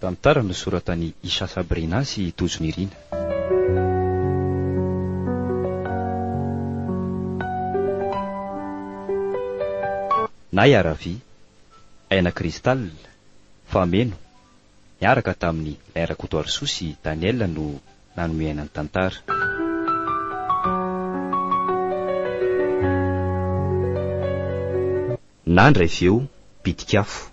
Tantara nosoratan'i Isha Sabrina sy i Tojo Nirina. Naya Ravi, Aina Crystal, Fameno, niaraka tamin'i Lay Rakotoarisoa sy Daniel no nanome aina ny tantara. Nandra avy eo Bitik'afo,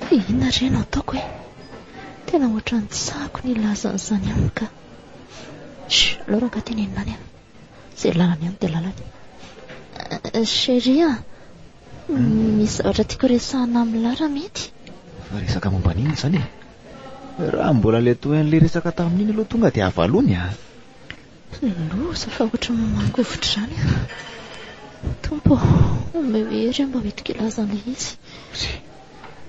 Fa inona re no ataoko e? Tena ohatran'ny tsy sahako ny hilaza an'izany aminy ka. Chut, aleo rangah tenenina any an. Izay lalany any dia lalany. Eh, chérie a, hmm? misy zavatra tiako resahana amin'ny Lara mety? Fa resaka momba an'inona izany e? Raha mbola ilay toy an'ilay resaka tamin'iny aloha tonga dia avalony a. Loza fa ohatra mamangovitra izany an! Tompo ô, omeo hery aho mba ho hidika hilaza an'ilay izy. Tsia,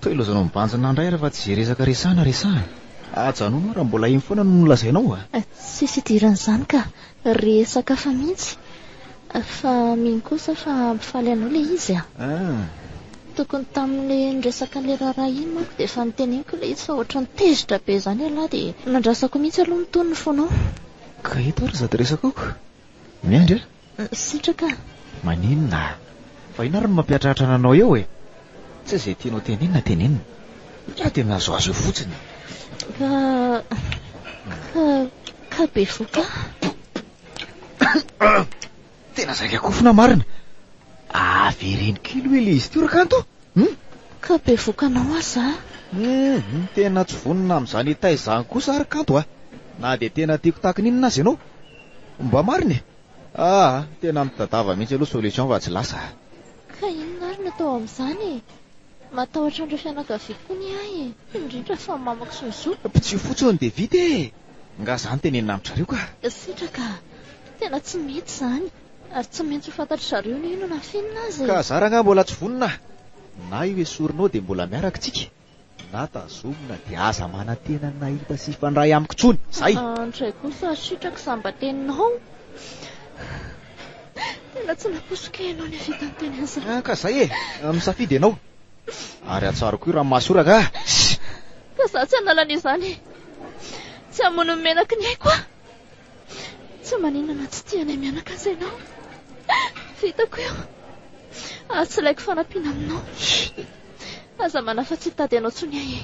toa ilaozanao mibanjina indray ary fa tsy izay resaka resahana resahana. Ajanony eo raha mbola iny foana no nolazainao a! Tsisy idiran'izany ka! Resaka hafa mihitsy! Fa mino kosa fa hampifaly anao ilay izy a! Tokony tamin'ilay niresaka an'ilay raharaha iny manko dia efa noteneniko ilay izy fa ohatran'ny tezitra be izany ialahy dia nandrasako mihitsy aloha ny tonony fonao. Ka eto ary sady resakako. Miandry a! Sitraka a! Maninona a! Fa inona ary no mampiatratra ananao eo e! Tsy izay tianao tenenina tenenina. Ialahy dia mihazohazo eo fotsiny. Ka, ka, ka bevoka a! Tena zaika kofona marina. Avereno kely hoe le izy teo rakanto. Hmm? Ka be vokanao aza. Hmm, hmm, tena tsy vonona amin'izany etaizany izany kosa ary kanto ah. Na dia tena tiako tahaka ny inona aza ianao. Mba marina e. Ah, tena mitadava mihitsy aloha solution fa tsy lasa. Ka inona ary no atao amin'izany e? Matahotra an'ireo fianakaviako koa ny ahy e. Indrindra fa mamako sy ny zoko. Pitsio fotsiny dia vita e. Nga zany tenenina amin-dry zareo ka. Sitraka a! Tena tsy mety izany, ary tsy maintsy ho fantatry zareo ny inona ny finina aza e! Ka zara nga mbola tsy vonona? Na io esorinao dia mbola miaraka tsika, na tazomina dia aza manantena ny nahita sy hifandray amiko tsony! Zay! Andray kosa ry sitraka isam-bateninao! Tena tsy nampoisiko ianao nihavita niteny an'izany! Ka zay e! Misafidy ianao! Ary atsaro koa i Ramasoraka ah! Shh! Fa za tsy hanala an'izany e! Tsy hamono ny menaky ny aiko aho! Tsy maninona na tsy tianay mianaka aza ianao! Vitako io! Ary tsy ilaiko fanampiana aminao! Shh! Aza manahy fa tsy hitady anao intsony ahy e!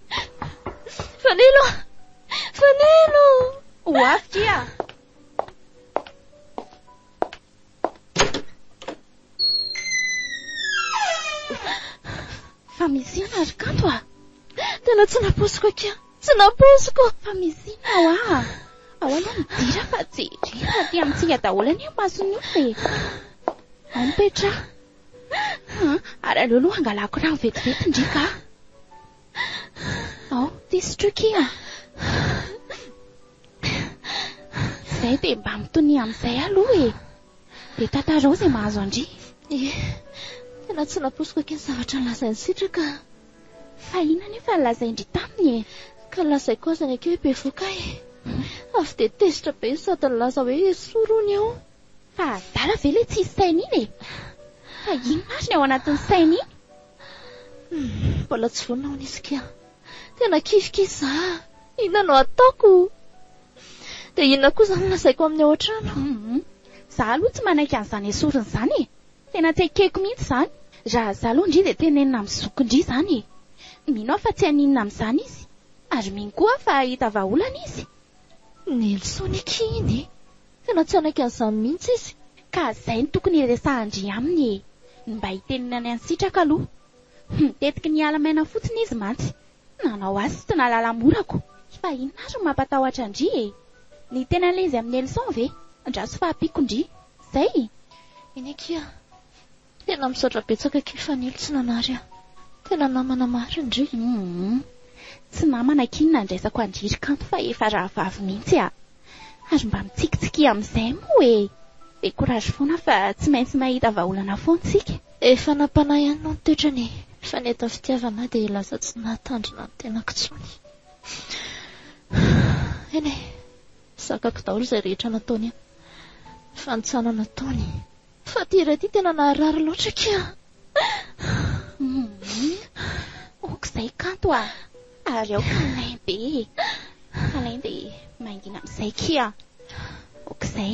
Fanilo! Fanilo! Ho avy kia! Fa misy inona ry kanto ah? Tena tsy naposiko akia! Tsy naposiko! Fa misy inona ho ah? Ao aloha midira fa jerena aty amintsika daholo anie ny mason'io e! Ao mipetraha! Ary aleo aloha hangalako rano vetivety ndry ka. Ao, ty sotroy ki a! Izay dia mba mitonia amin'izay aloha e! Dia tantarao izay mahazo an-dry. Ie, tena tsy nampoiziko aky ny zavatra nolazain'i Sitraka. Fahina anefa ny lazain-dry taminy e! Ka nolazaiko aza ny aky hoe bevoka ahy. Avy dia tezitra be ny sady nilaza hoe esory hono eo. Fa adala ve ilay tsisy saina iny e? Fa inona ary ny ao anatin'ny saina iny? Humm, mbola tsy vonona ho nisy kian. Tena kivy kivy za a! Inona no ataoko? Dia inona koa izany no lazaiko amin'ny ao an-trano? Humm, za aloha tsy manaiky an'izany esorina izany e! Tena tsy ekeko mihitsy izany. Raha za aloha ndry dia tenenina amin'ny zoky ndry izany e! Mino aho fa tsy haninona amin'izany izy. Ary mino koa aho fa hahita vahaolana izy. Nelson akia iny e! Tena tsy hanaiky an'izany mihitsy izy. Ka zay no tokony hiresahan-dry aminy e! Ny mba hiteniny any an'i Sitraka aloha. Humm tetiky niala maina fotsiny izy mantsy. Nanao azy sy tsy nahalala mora ko! Fa inona ary no mampatahotra an-dry e? Ny teny an'ilay izy amin'i Nelson ve? Andraso fahampiako ndry. Zay? Eny akia. Tena misaotra betsaka kay Fanilo tsy nanary ahy. Tena namana marina re. Humm. Tsy namana akia ny nandraisako an dry kanto fa efa rahavavy mintsy a! Ary mba mitsikitsikia amizay moa e! Be courage foana fa tsy maintsy mahita vahaolana foan tsika. Efa nampanahy ihany moa ny toetrany e! Fa ny eto amin'ny fitiavana aho dia lasa tsy nahatandrina ny tenako intsony. Eny e! Zakako daholo izay rehetra nataony ahy. Fanintsanana ataony. Fa ty iray ty tena naharary loatra kia. Ok izay kanto a! Ary aoka milain be e! Alain dia mangina amin'izay kia! Ok izay!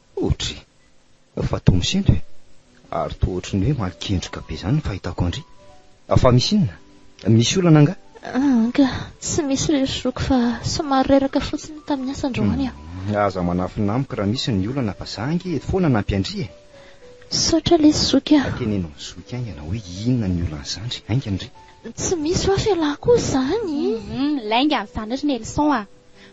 Otry! Fa toa misento e! Ary toa ohatry ny hoe malin-kendrika be izany ny fahitako an-dry. Fa misy inona? Misy olana angaha? Anga, tsy misy ry zoky fa somary reraka fotsiny tamin'ny asa androany aho. Aza manafina amiko raha misy ny olana fa za ange eto foana hanampy an-dry e! Misaotra lesy zoky a! Teneno ny zoky haingana hoe inona ny olan'i zandry haingana ry. Tsy misy hoa fialako izany! Hum, hum, lainga an'izany ry Nelson a!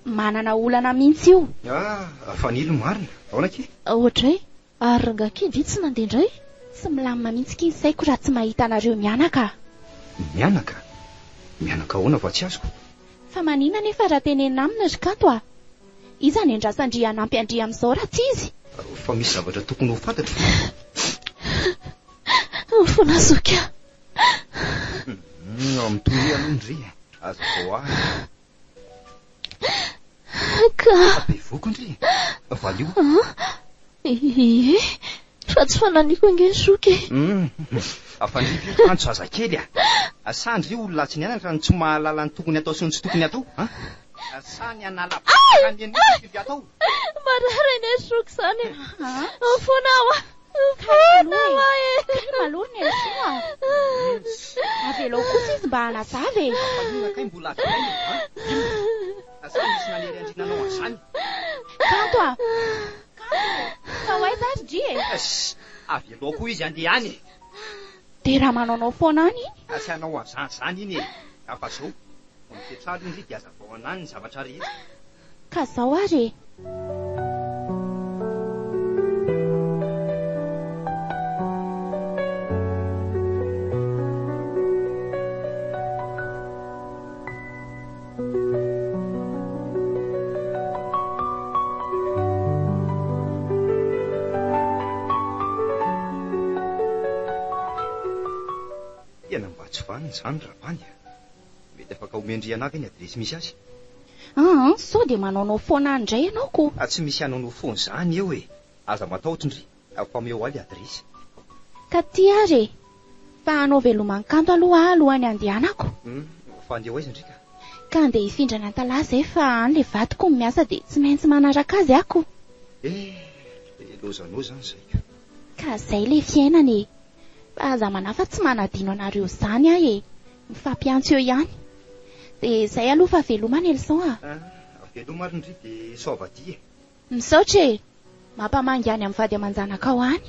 Manana olana mintsy io. Ah! Fanilo marina! Aona ki? Aoadray! Ary rangah ki ndry tsy mandeha ndray? Tsy milamina mintsy ki ny saiko raha tsy mahita anareo mianaka ah! Mianaka? Mianaka ahoana fa tsy azoko? Fa manina nefa raha tenenina aminy ry Kanto ah! Iza ny andrasan-dry hanampy an-dry amin'izao raha tsy izy? Fa misy zavatra tokony ho fantatro fa. Aoa fona zoky ah! Hum, mitonia aloha ndry, aza vao ahy. Ka. Bevohoka ndry e. Valio. Ie, fa tsy fananiko ange ny zoky e. Afandrivo io kanjo zazakely a. Asa ndry io olona tsy niainana ka no tsy mahalala ny tokony atao sy ny tsy tokony atao a. Asa ny hanala vava ka ny an'io tokony atao. Marary anie zoky izany e. Mifona aho a. Mifona aho a e. Kay malou ny emission a. Avelao kosa izy mba hanazava e. Ampahigna kay mbola avy haingana a. Inona? Sa misy nanery andriana anao an'izany? Kanto a. Kanto e. Fa ho aiza ry Dry e. Ess. Avelao koa izy handeha any e. Dia raha manaonao foana any iny. Tsy hanao an'izany izany iny e. Ka fa izao. Vao mipetraha aloha indry dia hazavao anany ny zavatra rehetra. Ka zao ary e! Tena mba tsy vanona izany Rabany a! Mety afaka omen-dry ianà ve ny adiresy misy azy? Aa, sao dia manaonao foana any indray ianao ko! A, tsy misy hanaonao foana izany eo e! Aza matahotra ndry, afa omeo ahy ilay adiresy. Ka ty ary e! Fa hanao velomankanto aloha aho alohan'ny handehanako. Hum, fa handeha ho aiza ndry ka? Ka handeha hifindra any Antalaha izay fa any ilay vadiko no miasa dia tsy maintsy manaraka azy aho ko! Eh, dia lozanao izany izay ka! Ka izay ilay fiainana e! Fa aza manahy fa tsy manadino anareo zany aho e! Mifampiantso eo ihany. De zay aloha fa veloma Nelson a! Ah, veloma ary ndry de soavadia e! Misaotra e! Mampamangy any amin'ny vady aman-janakao any.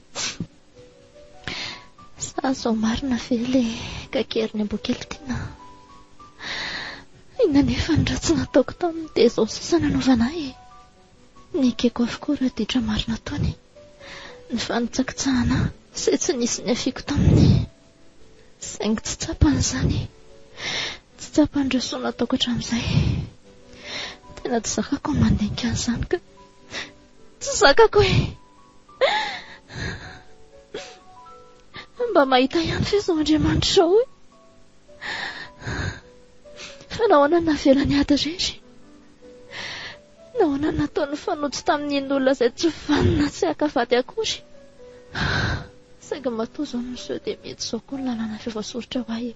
Sa zao marina ve le kakeriny ambokely tiana? Inona nefa ny ratsy nataoko taminy dia zao sisa nanaovana ahy e. Nekeko avokoa raha ditra marina tony. Ny fanitsakitsahana ahy se tsy nisy niafiako taminy. Saingy tsy tsapany izany. Tsy tsapany ireo soa nataoko hatramin'izay. Tena tsy zakako ny mandinika an'izany ka. Tsy zakako e! Mba mahita ihany ve izao Andriamanitra izao e! Fa nahoana no navelany ady irery? Nahoana no nataony nifanojo tamin'iny olona izay tsy vanona tsy haka vady akory? Saingy matoa izao no miseho dia mety izao koa ny lalàna efa voasoritra ho ahy e!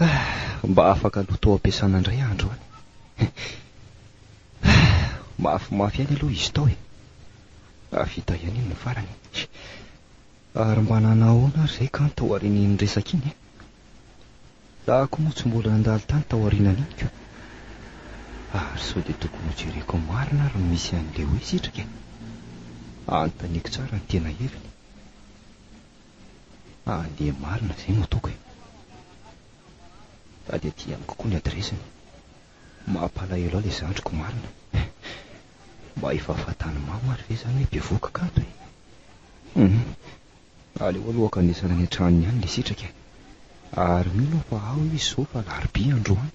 Ah! Mba afaka loto ampiasana indray andro any. Ah! Mafimafy any aloha izy tao e. Hahavita ihany iny ny farany e. Ary mba nanao ahoana ary izay kan tao aorian'iny resaka iny e. Za koa moa tsy mbola nandalo tany tao aorianan'iny ko. Ary sao dia tokony hojereko marina ary ny misy an'i Leo e sitraka e. Anontaniako tsara ny tena heviny. Ah dia marina izay no ataoko e! Fa dia aty amiko koa ny adiresiny. Mampalahelo ahy ilay zandriko marina e! Mba efa fantan'i Mama ary ve izany hoe bevohoka kanto e! Humm! Aleo aloha hankanesana any an-tranony any ilay sitraka e! Ary mino aho fa ao izy izao fa alarobia androany.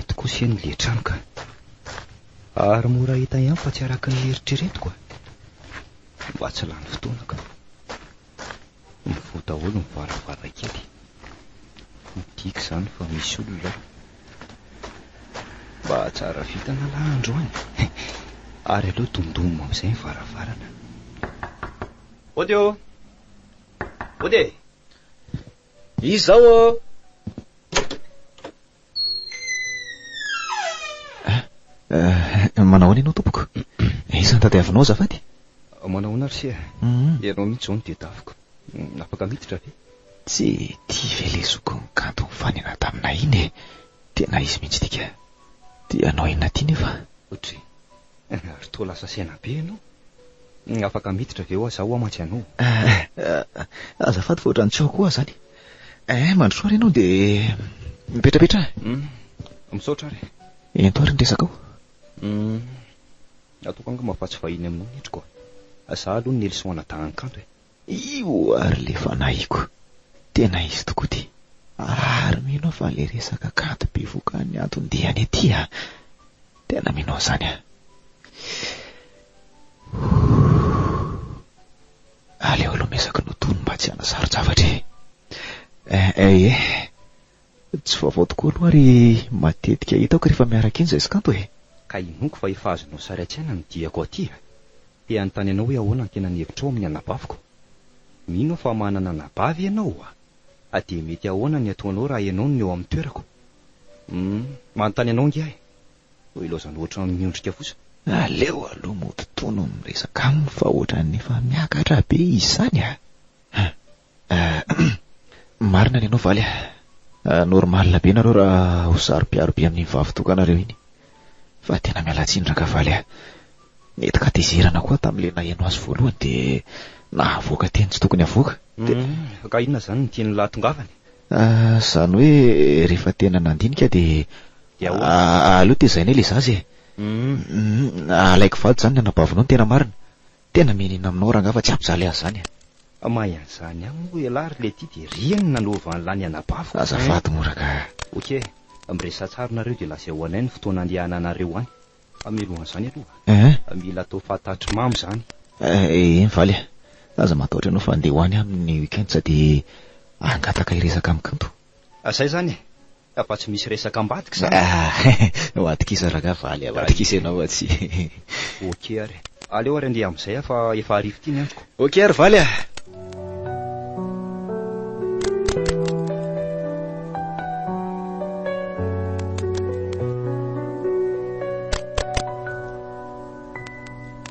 Eto kosa eny le trano ka. Ary mora hita ihany fa tsy araka ny eritreretiko a. Mba tsy lany fotoana ka. Mivoha daholo ny varavarankely. Midika izany fa misy olona ao. Mba tsara vitana lahy androany. Ary aleo dondonina amin'izay ny varavarana. Ody ô! Ody e! Izao ô! Manao ahoana ianao tompoko? Aiza ny tadiavinao azafady? Manao ahoana ry sera? Ianao mihitsy izao no dia tafiko. Afaka miditra ve? Tsy tia ve lesoko ny kanto nifanena taminay iny e? Tena izy mihitsy ity ka. Tianao inona ity nefa? Otry. Ry toa lasa saina be ianao. Afaka miditra ve hoa zaho hoa mantsy anao? Azafady fa ohatran'ny tsy ao koa zany. Eh, mandrosoa ary ianao dia mipetrapetra eh. Hum, misaotra ary. Ento ary ny resakao. Hum, ataoko angamba fa tsy vahiny aminao ny endriko. Za aloha Nelson Adahankanto eh. Io ary le fanahiko. Tena izy tokoa ty. Ary mino aho fa le resaka kanto bevoka an'ny anton-diany aty a! Tena mino an'izany aho. Aleo aloha mesaky notono mba tsy hanasaro-javatra e. Eh eh eh. Tsy vaovao tokoa aloha ary matetika hitako rehefa miaraka iny zaisy kanto e! Ka inoako fa efa azonao sary an-tsaina ny diako aty a! Te hanontany anao hoe ahoana ny tena ny hevitrao amin'ny anabaviko? Mino aho fa manana anabavy ianao a! Ka dia mety ahoana ny hataonao raha ianao no eo amin'ny toerako? Hum, manontany anao ange aho no ilaozanao ohatran'ny miondrika fosa. Aleo aloha mody toa no miresaka aminy fa ohatran'ny efa miakatra be izy izany a! Hum, Marina ny anao Valy a. Ah, normal be nareo raha ho saropiaro be amin'iny vavitokanareo iny. Fa tena mialatsiny Rakavaly a. Nety katezerana koa tamin'ilay naheno azy voalohany dia nahavoaka teny tsy tokony havoaka. Dia Humm, ka inona izany ny tian'ny lahatongavany? Ah, izany hoe rehefa tena nandinika dia Dia ahoana? ah, aleo tezainay ilay zaza e. Humm. Humm, alaiko vady izany ny anabavinao ny tena marina. Tena mianiana aminao rangah fa tsy hampijaly azy zany eh. Mahay an'izany ihany moa elah ry Letty dia ry eny nanova an'lah ny anabaviko. Azafady moa rangah. Ok, miresaha tsara nareo dia lazao anay ny fotoana andehananareo any. Fa mialohan'izany aloha, mila atao fantatry mamo izany. Eny valy ah, aza matahotra ianao fa andeha ho any aho amin'ny week-end sady hangataka hiresaka amin'i Kanto. Ah zay zany e! Fa tsy misy resaka ambadika izany e! Ah! Ho atokisa rangahy fa le amatokisa ianao ah tsy e! Ok ary! Aleo ary andeha amin'izay ah fa efa hariva ity ny androko! Ok ary valy ah!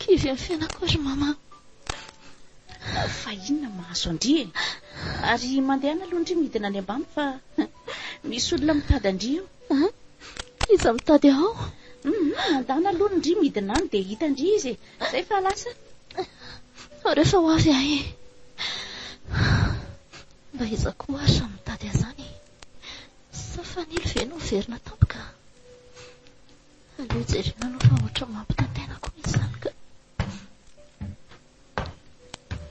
Kivy ny fiainako ry Mama. Fa inona mahazo an-dry e? Ary mandehana aloha an-dry midina any ambany fa misy olona mitady an-dry eo. An? Iza mitady ahy ao? Hum, mandana aloha ny ndry midina any dia hita an-dry izy e. Izay fa lasa. Fa rehefa ho avy ahy e. Mba iza koa ary raha mitady ahy izany e? Sa fanilo ve no miverina tampoka? Aleo jerena aloha fa ohatran'ny mampitantena koa misy izany ka.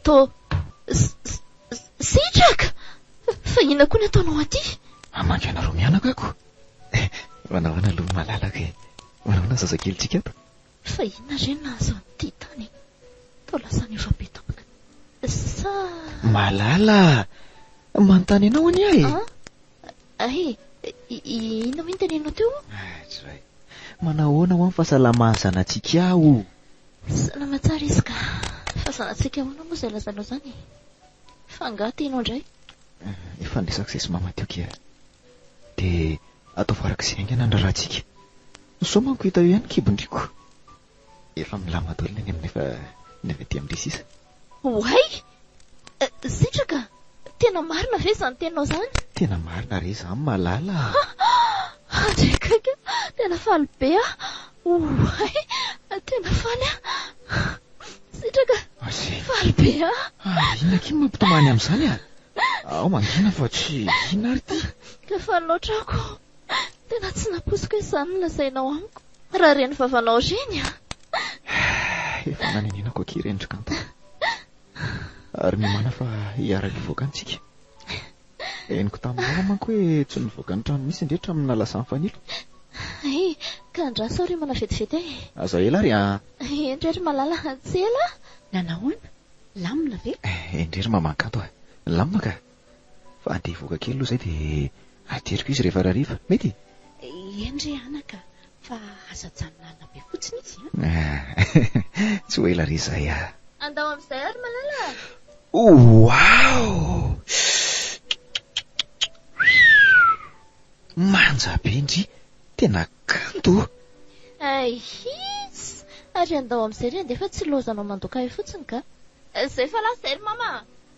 To, sitraka! Fa inona koa ny ataonao aty? Hamangy anareo mianaka ako. Eh, manao ahoana aloha ny malalaka e. Manao ahoana ny zazakelintsika ato? Fa inona re no nahazo an'ity tany? Tao lasa ny efa be tapaka. Sa... Malala! Manontany anao anie ahy. Ah? Ahy, inona moa ny teneninao teo? Tsray. Manahoana ho'a ny fahasalaman'ny zanatsika o? Salama tsara izy ka. Fa zanatsika ahoana moa izay lazainao izany e? Fa angaha tianao indray? Efa niresaka izay sy mama teo kea. Dia ataovy arak'izay haingana ny raharahantsika. Sao manko hita eo ihany ny kibon-driako. Efa milamina daholo ny any aminy fa ny avy aty amindry sisa. Oay! Sitraka! Tena marina ve izany teninao izany? Tena marina re izany malala ah! Andrekaiky a! Tena faly be aho! Oay! Tena faly aho! Sitraka! Faly be aho! Ary inona akia no mampitomany amin'izany a? Aho mangina fa tsy inona ary ity. Ka faly loatra aho ko! Tena tsy nampoiziko hoe izany no lazainao amiko. Raha ireny vavanao ireny an! Efa nanenenako akia ireny ry Kanta. Ary miomana fa hiaraka hivoaka any tsika. Henoko tamin'ny mama manko hoe tsy nivoaka ny trano mihitsy indrehitra amin'ny nalasan'i Fanilo. Hey, ka andraso aho riomana vetivety e! Aza ela ary an! Endrey ry Malala, tsy ela! Na nahoana? Lamina ve? Endrey ry maman Kanto a! Lamina ka! Fa andeha hivoaka kely aloha izay dia ateriko izy rehefa rariva. Mety e? Eny re anaka, fa aza ajanona alina be fotsiny izy an! Ah! Tsy ho ela re izay ah! Andao amin'izay ary Malala ah! Waouh! Manja be ndry! Tena kanto oh! Aihis! Ary andao amin'izay re andeha fa tsy lozanao mandoka ahy fotsiny ka! Izay fa lasa izay ry Mama ah!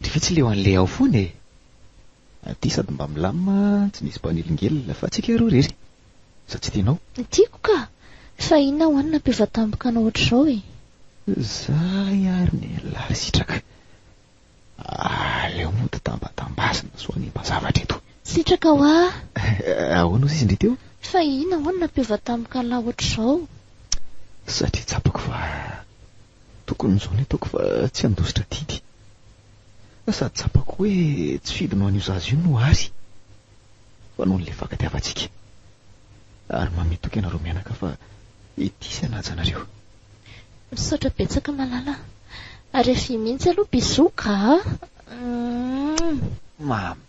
Dia ve tsy leo an'ilay ao foana e! Aty sady mba milamina tsy misy mpanelingelina fa tsika roa irery. Sa tsy tianao? Tiako ka! Fa inona ho'a ny nampivatampoka anao ohatr'izao e! Zay ary ny lary sitraka! Aleo mody tambatambazina sao hanimba zavatra eto. Sitraka ho'a! Ahoana ozy izy indray teo? Fa inona ho'a ny nampivatampoka an'lah ohatr'izao? Satria tsapako fa. Tokony izao ny ataoko fa tsy handositra didy. Sady tsapako hoe tsy fidiny ho an'io zaza io no Ary fa noho ny lefaka tiavantsika. Ary mame toky anareo mianaka fa ity sy hanaja anareo. Misaotra betsaka malala a. Ary avia mihintsy aloha bisous gaa. Mhh. Mame.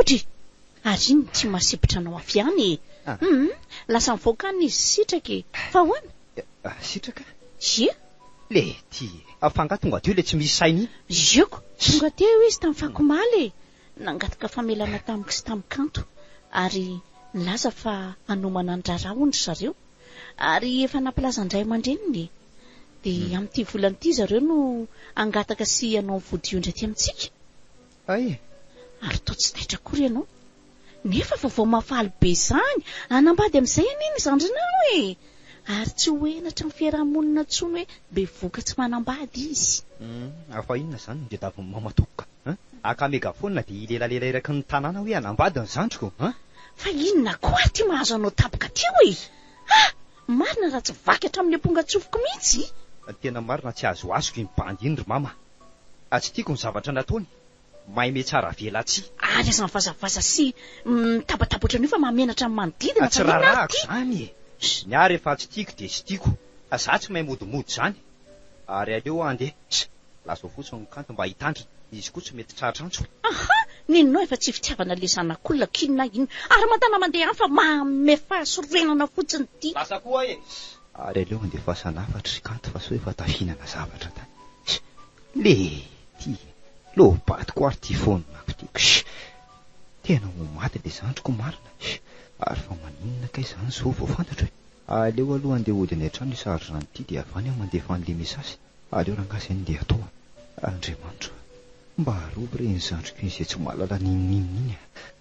Odry! Ary iny tsy masipitra anao avy any e! Hum! Lasa nivoaka any izy sitraka e! Fa ahoana? Sitraka? Ie! Le ty e! Fa angaha tonga teo ilay tsy misy saina iny? Ieko! Tonga teo izy tamin'ny fako omaly e! Nangataka famelana tamiko sy tamin'i Kanto ary nilaza fa hanomana ny raharaha hono ry zareo. Ary efa nampilazan'ny ray aman-dreniny e! Dia amin'ity volana ity zareo no hangataka sy hanao ny vodio indray aty amintsika. Hay! Ary toa tsy taitra akory ianao. Nefa vaovao mahafaly be izany! Hanambady amin'izay anie ny zandrinao e! Ary tsy ho henatry ny fiaraha-monina intsony hoe be vokatry manambady izy. Humm! Fa inona izany no tadiavin'i Mama tompoko ka! An! Haka megaphone dia hilelalela eraky ny tanàna hoe hanambady ny zandriko! An! Fa inona koa ary ity mahazo anao tampoka ity hoe! Ha! Marina raha tsy vaky hatramin'ny ampongan-tsofiko mihitsy! Tena marina tsy azoazoko iny bandy iny ry Mama! Ah tsy tiako ny zavatra nataony, maime tsara avela tsy. Ary aza mivazavaza sy mitabataba ohatran'io fa mahamenatra ny manodidina fa inona ary ity? Tsy raharahako izany e! Ny ahy rehefa tsy tiako dia tsy tiako fa za tsy mahay modimody izany ary aleo aho ndeha sh! lazao fotsiny ny kanto mba hitandrina, izy koa tsy mety tratra antso e! Aha! Nenao efa tsy fitiavana le zanak'olona k'inona inona ary mantanà mandeha any fa mahamefaha sorenana fotsiny ity! Lasa koa aho e! Ary aleo andefasana hafatra ry kanto fa sao efa tafihinana zavatra tany sh! Le ty e! Lobato ko ary ty foninako ty ksh! Tena ho maty le zandriko marina sh! Ary fa maninona kay zany zao vao fantatro e! Aleo aloha andeha hody any an-trano io sary zandry ity dia avy any aho mandefa an'le message, aleo rangaha zay no ndeha atao a! Andriamanitro a! Mba arovy re iny zandriko iny zay tsy mahalala n'inon'inona iny a!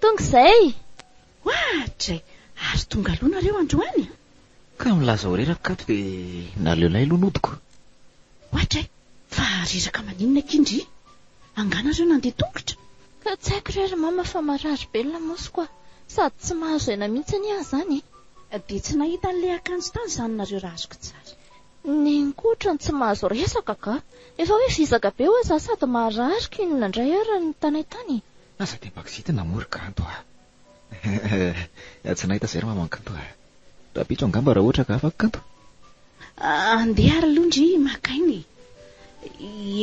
Tonga izay! Oadray! Ary tonga aloha nareo androany a! Ka milaza ho reraka kato dia naleo lay aloha nodiko. Oadray! Fa reraka maninona akia ndry? Angaha nareo nandeha tongotra? Ka tsy haiko re ry mama fa marary be ny lamosiko a! Sady tsy mahazo aina mihitsy anie aho izany e! Dia tsy nahita an'ilay akanjo tany izany nareo raha azoko tsara? Neny koa otrany tsy mahazo resaka ka! Efa hoe vizaka be ho'a za sady maharary ko inona indray ary no nitanay tany e! Aza dia baksity na mory kanto a! Ehh, tsy nahita izay ry maman kanto a! Tapitro angamba raha ohatra ka afaka kanto? Andeha ary aloha ndry maka aina e!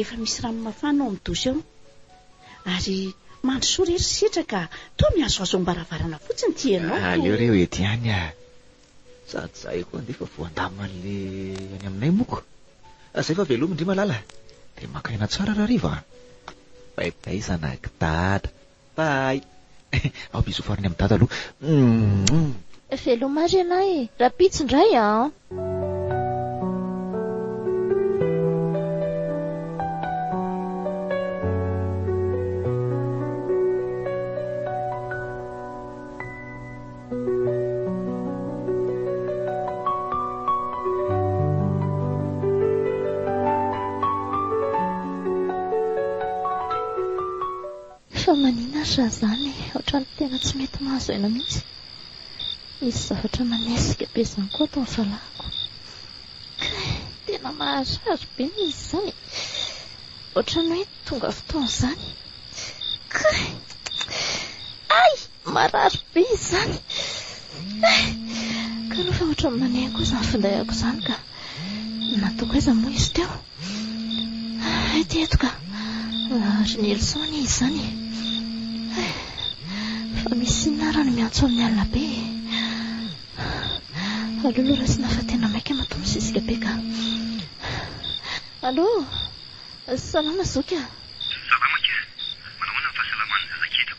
Efa misy rano mafana ao amin'ny douche ao. Ary mandrosoa re ry setra ka toa mihazohazo am-baravarana fotsiny ity ianao toa. Aleo re ho ety ihany a! Za tsy zay koa andefa voandaman'le any aminay moko. Zay fa velomy ndry malala. Dia maka aina tsara rahariva a! Bye bye zanak'i dada. Bye! Ao bisous farany amin'i dada aloha. Moumm. Veloma ary ialahy e! Rahampitso indray an! Fa manina ary raha zany e, otrany tena tsy mety mahazo aina mihitsy, misy zavatra manesika be zany koa ato ny valahako, kay tena maharary be ny izy zany e, otrany hoe tonga fotoana zany, kay ay! Marary be izany eh! Ka aloha fa ohatran'ny maneha koa izany findahako izany ka! Nataoko aiza moa izy teo? Ety eto ka! Ry Nelson anie izany eh! Fa misy inona ary no miantso amin'ny alina be e? Allo lo raisina fa tena maika matoa misisika be ka! Allo! Salama zoky a! Salama kely! Manahoana ny fahasalamana, raketo?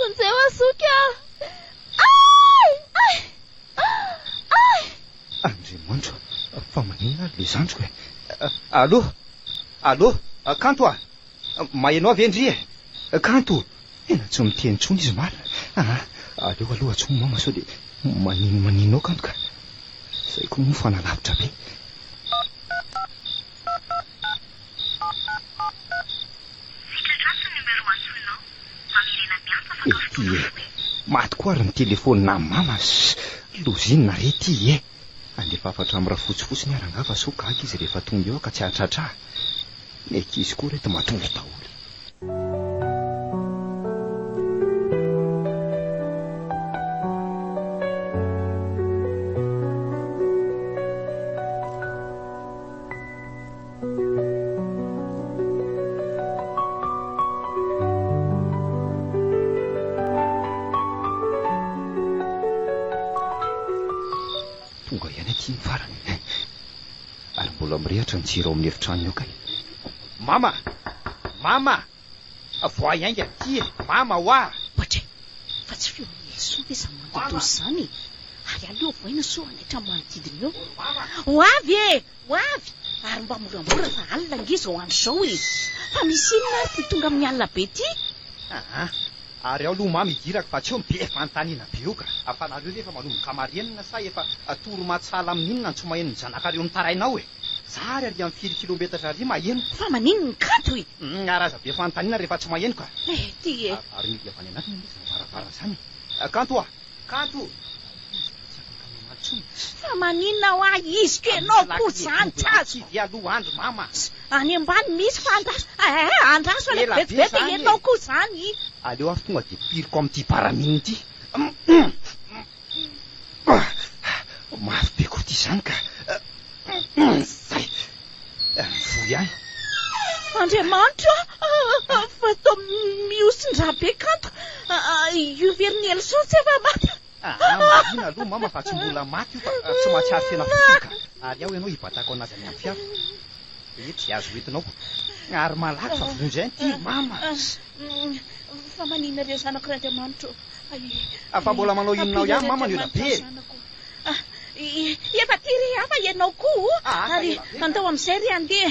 Vonjeo aho zoky a! Ay! Ay! Ay! Andriamanitro a! Fa maninona ary ilay zandriko e? Allo! Allo! Kanto a! Maheno ahy ve ndry e? Kanto! Tena tsy miteny intsony izy marina a! Aa! Aleo aloha tsy homama sao dia manino manino ao kanto ka! Izay koa moa fa nalavitra be! Ety e! Maty koa ary ny telefonina mama sy lozina re ity e! Andefa hafatra amin'ny rafotsy fotsiny ary angaha fa sao gaga izy rehefa tonga eo aho ka tsy hahatratra ahy. Ny ankizy koa reto matory daholo e! Tonga ihany aty ny farany. Ary mbola mirehatra ny jiro ao amin'ny efitranony ao kay. Mama! Mama! Avoahy ainga aty e! Mama hoa! Poitra e! Fa tsy feon'i Nelson ve izany mandoadoa izany e! Ary aleo avoaina sao hanaitra ny manodidina eo. Ho avy e! Ho avy! Ary mba moramora fa alina ange izao andro izao e! Fa misy inona ary ity tonga amin'ny alina be ity? Aa! Ary ao aloha mama idirako fa tsy eo ny be fanontaniana be io ka! Fa nareo ve efa manomboka marenina sa efa toro-matsala amin'inona ny tsy maheno ny zanakareo mitaraina ao e! Zary ary am firy kilometatra ary maheno. Fa maninn ny kanto e! Ary aza be fanontaniana rehefa tsy maheno ka! Eh ty e! Ary mihidy avy any anatiny anie izany varavara izany e! Kanto a! Kanto! Ary izy dia tsy afaka mamaly intsony e! Fa maninona hoa iziko ianao koa izany tsy azoko! Tsy dia aloha andry mama! Any ambany misy fa andraso eh eh! Andraso anie vetivety ianao koa izany! Aleo ary tonga dia piriko amin'ity baramine ity! Ah! Mafy be koa ity izany ka! Zay! Mivoy ihany. Andriamanitro a! Fa toa mihosin-drà be kanto io verin'i Elson tsy efa maty. Aa! Marina aloha mama fa tsy mbola maty io fa tsy mahatsiaro tena fotsiny ka! Ary ao ianao hibatako an'azy any amin'ny fiara. Ee, tsy azo entinao. Ary malaky fa vonoin'izay ity mama. Fa maninona re zanak'Randriamanitro? Fa mbola manao inona ao ihany mama ny ela be e! Efa aty re aho fa ianao koa o! Ary andao amin'izay re andeha!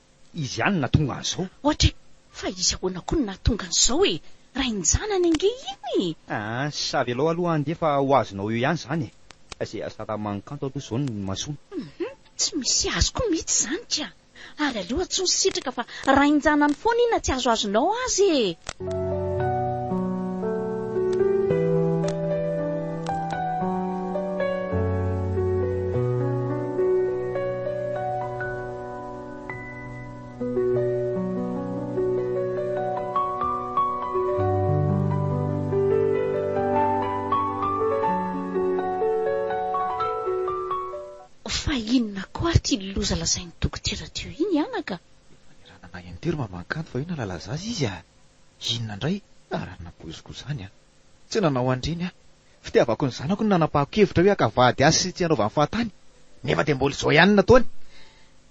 Izy ihany no nahatonga an'izao. Ohatra e! Fa izy ahoana koa no nahatonga an'izao e! Rain-janany ange iny e! Aa, sa avelao aloha ange fa ho azonao eo ihany izany e! Izay asalaman'ny kanto aloha izao no mahasoa. Hum, tsy misy azy koa mihitsy izany ka! Ary aleo antsoy sy sitraka fa rain-janany foana iny na tsy azoazonao aza e! Fa inona koa ary ity loza lazain'i dokotera teo iny anaka? Efa niranana in-tery mamankanto fa io nalala zaza izy a! Inona indray ary napoiziko izany a! Tsy nanao an'ireny aho. Fitiavako ny zanako no nanapahako kevitra hoe haka vady azy sy tsy hanaovany fahatany, nefa dia mbola izao ihany no nataony.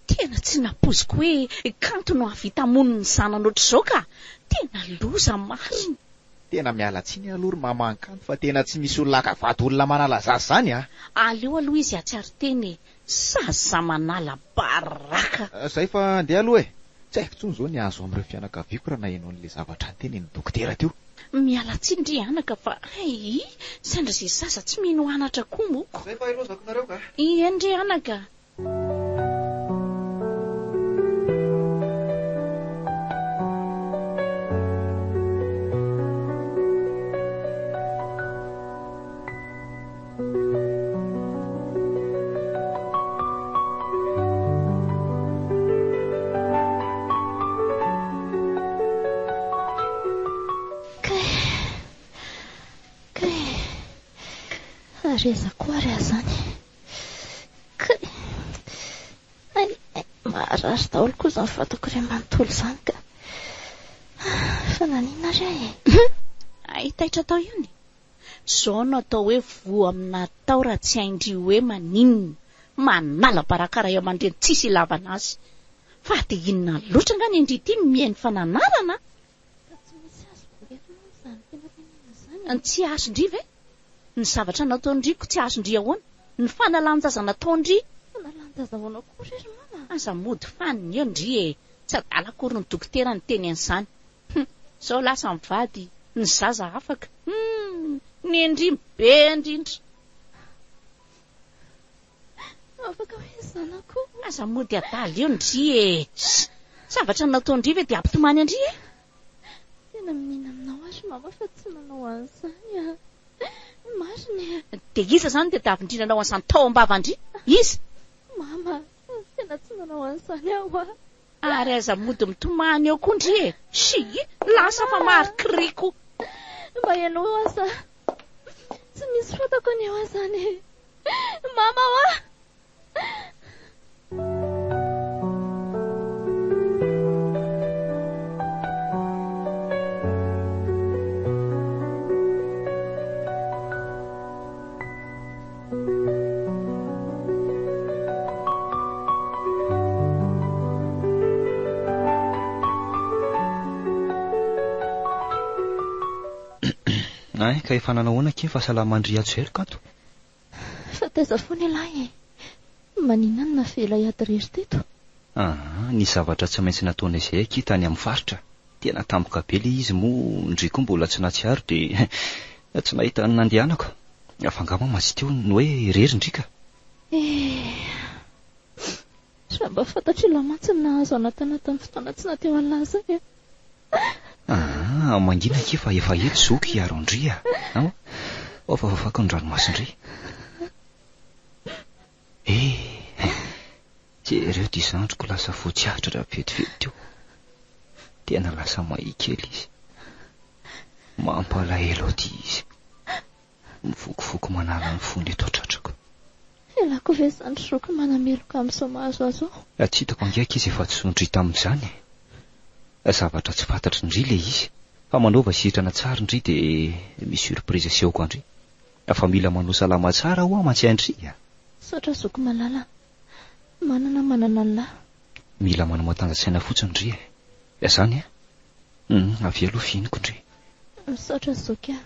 Tena tsy nampoiziko hoe kanto no hahavita hamono ny zanany ohatr'izao ka! Tena loza marina! Tena miala tsiny aloha ry maman kanto fa tena tsy misy olona haka vady olona manala zaza izany a! Aleo aloha izy hahatsiaro tena e! Zaza manala baraka. Zay fa andeha aloha e! Tsy haiko intsony izao ny hahazo amin'ireo fianakaviako raha naheno an'ilay zavatra notenenin'ny dokotera teo. Miala tsiny ry anaka fa ayy sendra izay zaza tsy mino anatra koa moko. Zay fa ilozako nareo ka. Ieny ry anaka. Kay! Kay! Ary aiza koa ary aho izany? Kay! Ay! Ay! Maharary daholo koa izany vatako iray manontolo izany ka! Fa naninona ary aho e? Hay taitra tao io ny. Zao no atao hoe voa amina atao raha tsy hain-dry hoe maninona. Manala baraka ray aman-dreny tsisy ilavana azy. Fa dia inona loatra angaha ny an-dry ity no mihaino fananarana a! Ka tsy misy azo velona amin'izany filaminana izany an! Tsy azon-dry ve? Ny zavatra nataon-dry ko tsy azon-dry ahoana? Ny fanalan-jaza nataon-dry? Fanalan-jaza ahoana ko re ry mama a! Aza mody fanina eo ndry e! Tsy adala akory ny dokotera niteny an'izany. Hum zao lasa mivady ny zaza afaka hum ny ndrimo be ndrindra. Afaka hoe zanako. Aza mody adala eo ndry e. Zavatra natao ndry ve de ampitomany andry e. Tena miniana aminao aho ry mama fa tsy manao an'izany a. Marina e. De iza zany ny tadiavin-dry nanao an'izany tao am-bava ndry? Iza? Mama. Tena tsy manao an'izany aho hoa. Ary aza mody mitomany eo koa ndry e! Shyy! Lasa fa marikry koa! Mba henoy hoa sa tsy misy fantako anie hoa izany e! Mama hoa! Ay, ka efa nanao ahoana akia fa salama an-dry Hajoelika ato? Fa taiza foana ialahy e! Maninona no navela hiady irery teto? Aa, nisy zavatra tsy maintsy nataonay izay akia tany amin'ny faritra. Tena tampoka be ilay izy moa ndry koa mbola tsy natsiaro dia tsy nahita ny nandehanako. Fa angaha mama tsy teo ny hoe irery ndry ka. Eh. Sa mba fantatr'i Lahy mantsy ny nahazo an'Atana tamin'ny fotoana tsy nateo an'Lahy izay eh. Ah, mangina akia fa efa eto zoky hiaro an-dry ah. Aoa, aoa fa fafako ny ranomason-dry. Eh! Jereo ity zandriko lasa fotsy atra raha vetivety teo. Tena lasa mahia kely izy. Mampalahelo aty izy. Mivokovoko manala ny fony eto an-tratrako. Ialako ve izany zoky manameloka amin'izao mahazo azy ao? Tsy hitako angiaky izy efa tsy zon-dry tamin'izany e! Zavatra tsy fantatry ndry ilay izy. Fa manaova sitrana tsara ndry dia misy surprise asehoko an-dry. Fa mila manao salama tsara hoa mantsy andry a! Misaotra zoky malala. Manana manana anlah. Mila manao matanjasaina fotsiny ndry e. Dia zany a! Hum avia aloha fihiniko ndry. Misaotra zoky a.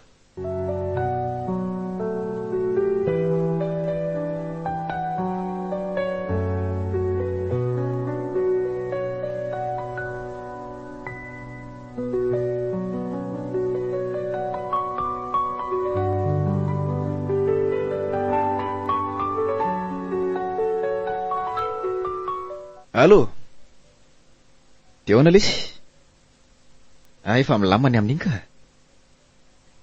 Allô? Dia ahoana lesy? Ah, efa milamina ny amin'iny ka.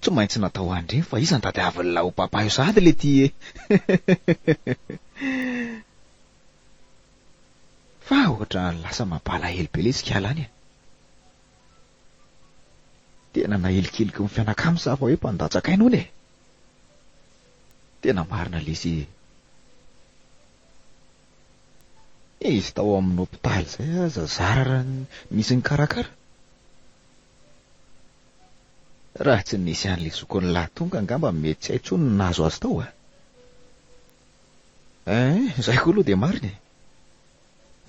Tsy maintsy natao andry iny fa iza ny tadiavin'ilay ho papa io sahady ilay ity e. Fa ohatra lasa mapalahelo be lesy kiala any e. Tena nahilikiliky ny fianakam sa fa hoe mpandatsa kaina hono e. Tena marina lesy e. Izy tao amin'ny hopitaly zay aza zara raha nisy nikarakara. Raha tsy nisy an'le zokin'la tonga angamba mety tsy hay tsony ny nahazo azy tao a. Eeh, izay koa aloha dia marina e.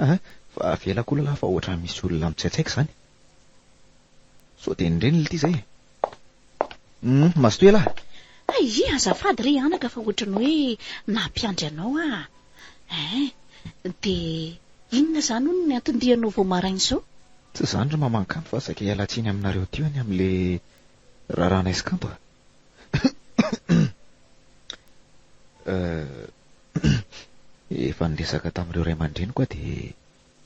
Aha, fa avelako ho lalà fa ohatran'ny misy olona mitsaitsaika izany. Sao dia ny reniny ity izay e. Hum, mazotoa ialahy. Aia, azafady re anaka fa ohatran'ny hoe nampiandry anao aho. Eeh, dia inona izany hono ny anton-dianao vao maraina izao? Tsy izany ry maman-kano fa saika hiala tsiny aminareo teo ny amin'ilay Raràna eskanto a. Efa niresaka tamin'ireo ray aman-dreniko aho dia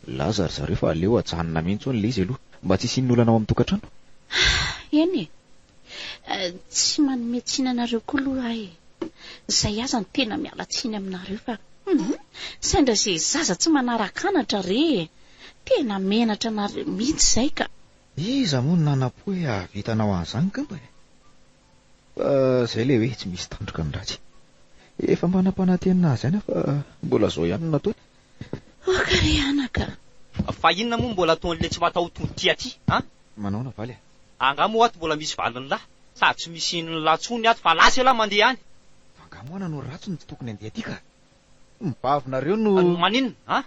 nilaza ry zareo fa aleo ajanona mihitsy hono ilay izy aloha mba tsy hisian'ny olana ao amin'ny tokantrano. Eny e. Tsy manome tsiny anareo koa aloha aho e. Izay aza no tena miala tsiny aminareo fa sendra izay zaza tsy manaraka anatra re e. Tena menatra anareo mihitsy izay ka. Iza moa no nanampo hoe hahavitanao an'izany kmpa e? Fa izay ilay hoe tsy misy tandroka ny ratsy. Efa mba nampanantena azy ihany aho fa mbola izao ihany no nataony. Aoka re anaka a! Fa inona moa no mbola ataon'ilay tsy mataho-tody ty aty a? Manao ahoana valy a? Angaha moa ato mbola misy valin'lah? Sady tsy misy inon'lah tsony ato fa lasa elah mandeha any! Fa angaha moana no ratsy no tsy tokony handeha aty ka? Ny bavinareo no. Maninona an?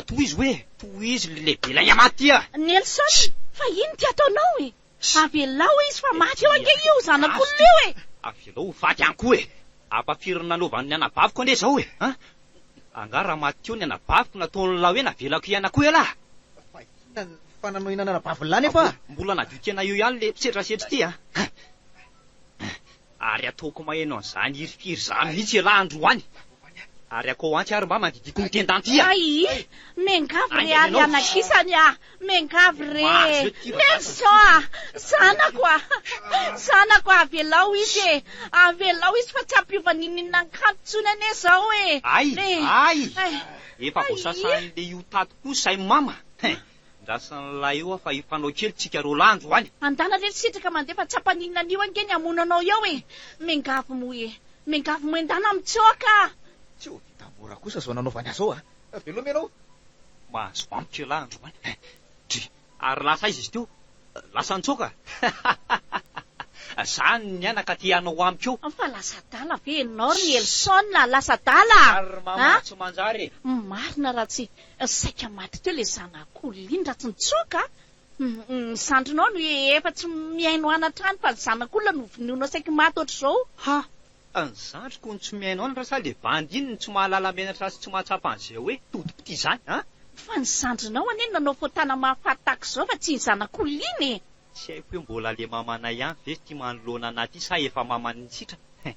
Tohizo hoe, tohizo le lehibe ilay Amaty a! Nelson, fa inn ty ataonao e? Avelao izy fa maty eo ange io zanak'olona io e! Avelao ho faty any koa e! Ampafirin'ny nanaovan'ny anabaviko ange zao e! An! Angaha raha maty teo ny anabaviko nataon'ny lahy hoe navelako hiaina koa ialahy? Fa inona ny fananohinana anabavin'lahy nefa a? Mbola nadio tena eo ihany le setrasetra ity a! Ary ataoko maheno an'izany hirifiry izany mihitsy ialahy androany. Ary akao antsy ary mba mandidiako ny tendanty a! Ay! Miangavy re ary anakisany a! Miangavy re! Nelson a! Zanako a! Zanako a! Avelao izy e! Avelao izy fa tsy hampiova ninininan'ny kanto intsony anie izao e! Ay! Ay! Efa voasasahin'ilay io tato koa izay mama! Hein! Andrasan'ilay oa fa hifanao kely tsika roa lahy andro any. Andana re ry sitraka mandeha fa tsapany inona anio ange ny hamono anao eo e! Mengavo moa e! Mengavo moa endana mitsoaka a! Tsy ho vita mora kosa zao nanaovany azy zao a! Veloma ianao! Mahazo antoka ialahy andro any. Dry! Ary lasa aiza izy teo? Lasa nitsoaka? Zany ny anaka te hanao amiko eo? Fa lasa adala ve enao ry Nelson a? Lasa adala a? Ary mama tsy manjary e! Marina raha tsy saika maty teo le zanak'o Liny raha tsy nitsoaka a! Ny zandrinao no efa tsy mihaino an hatrany fa ny zanak'olona no vonoinao saiky maty ohatr'izao! Ha! Ka ny zandriko no tsy mihaino anatra sa le bandy iny no tsy mahalala menatra sy tsy mahatsapa an'ze hoe todipitia zany an! Fa ny zandrinao anie no nanao fotana mahafaty tahaka izao fa tsy ny zanak'olona iny e! Tsy haiko hoe mbola le mamanay ihany ve ty manoloana anah ty sa efa mamany nitsitra hein!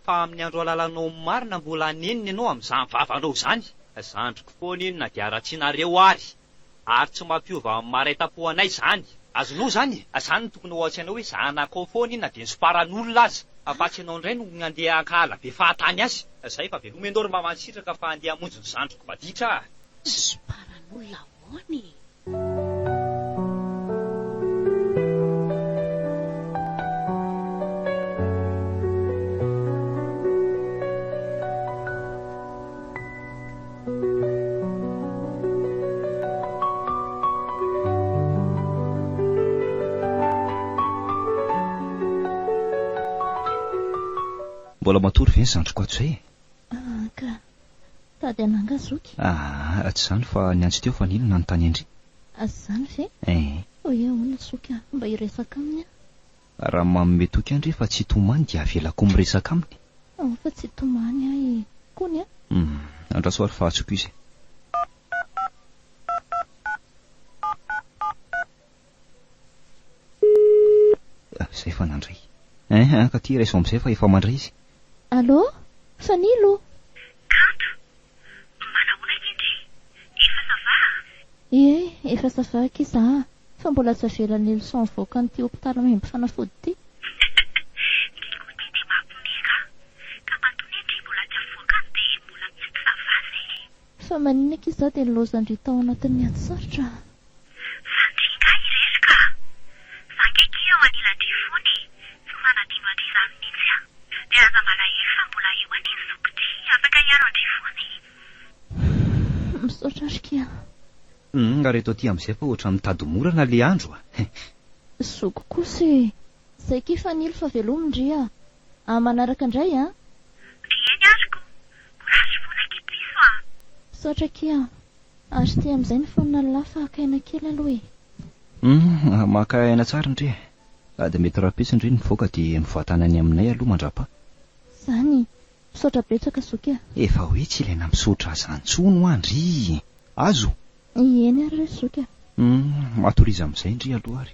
Fa amin'ny andro halalanao ny marina mbola hanenina ianao amin'izany vavanao izany! Zandriko foana iny na dia haratsianareo ary! Ary tsy mampiova maraitampo anay zany. Azonao zany e! Zany no tokony ho atsy anao hoe zanakao foana iny na dia nitsoparan'olona aza. Fa fa tsy ianao indray no handeha hankahala be fahatany azy. Zay fa veloma ianao ry mama nisitraka fa handeha hamonjy ny zandriko maditra ah. Nitsoparan'olona ahoana e? Mbola matory ve ny zandriko ato izay e? Aa ka. Tady an'anga zoky. Aa, tsy izany fa ny antsy teo fa nino nanontany an-dry. Azy izany ve? Ee. Hoe ahoana zoky a? Mba hiresaka aminy aho. Raha manome toky an-dry fa tsy tomany dia avelako miresaka aminy. Ao fa tsy tomany ahy e! Kony a! Hum, andraso ary fa atsoko izy. Izay fa nandray. Hein hein ka ty raiso amin'izay fa efa mandray izy. Allô? Fanilo? Kanto, Manahoana ity ndry? Efa ça va a? Ie, efa ça va aky za a! Fa mbola aza avela ny leçon avoaka an'ity hopitaly maimbo fanafody ity. Ny côté dia mampme ka. Ka matonia ndry mbola tsy avoaka any dia mbola tsy ça va zay e! Fa maninona aky za dia nilaozan-dry tao anatin'ny ady sarotra a! Sanatria nga i Resy ka! Fa nge ki eo anilan-dry fony e! Tsy manadino an-dry izany mihitsy an! Dia aza malahelo fa mbola eo anie ny zokitr'i afaka hiaro an-dry fony e! Humm misaotra ry ki an! Humm nga reto aty amin'izay fa ohatran'ny mitady morana le andro a! He! Zoky kosa e! Zay ki Fanilo fa velomy ndry a! Amin'ny manaraka ndray an! Ry Eny ary ko! Courage fona ki Piso a! Misaotra ki an! Ary ity amin'izay ny fonona llah fa haka aina kely aloha e. Humm maka aina tsara ndry e. Sady mety rahampitso ndry ny mivoaka dia mivatana any aminay aloha mandrapaha. Zany. Misaotra betsaka zoky a. Efa hoe tsy ilaina misaotra aza ntsony hoa ndry. Azo? Ieny ary re zoky a. Humm matoriza amin'izay ndry aloha ary.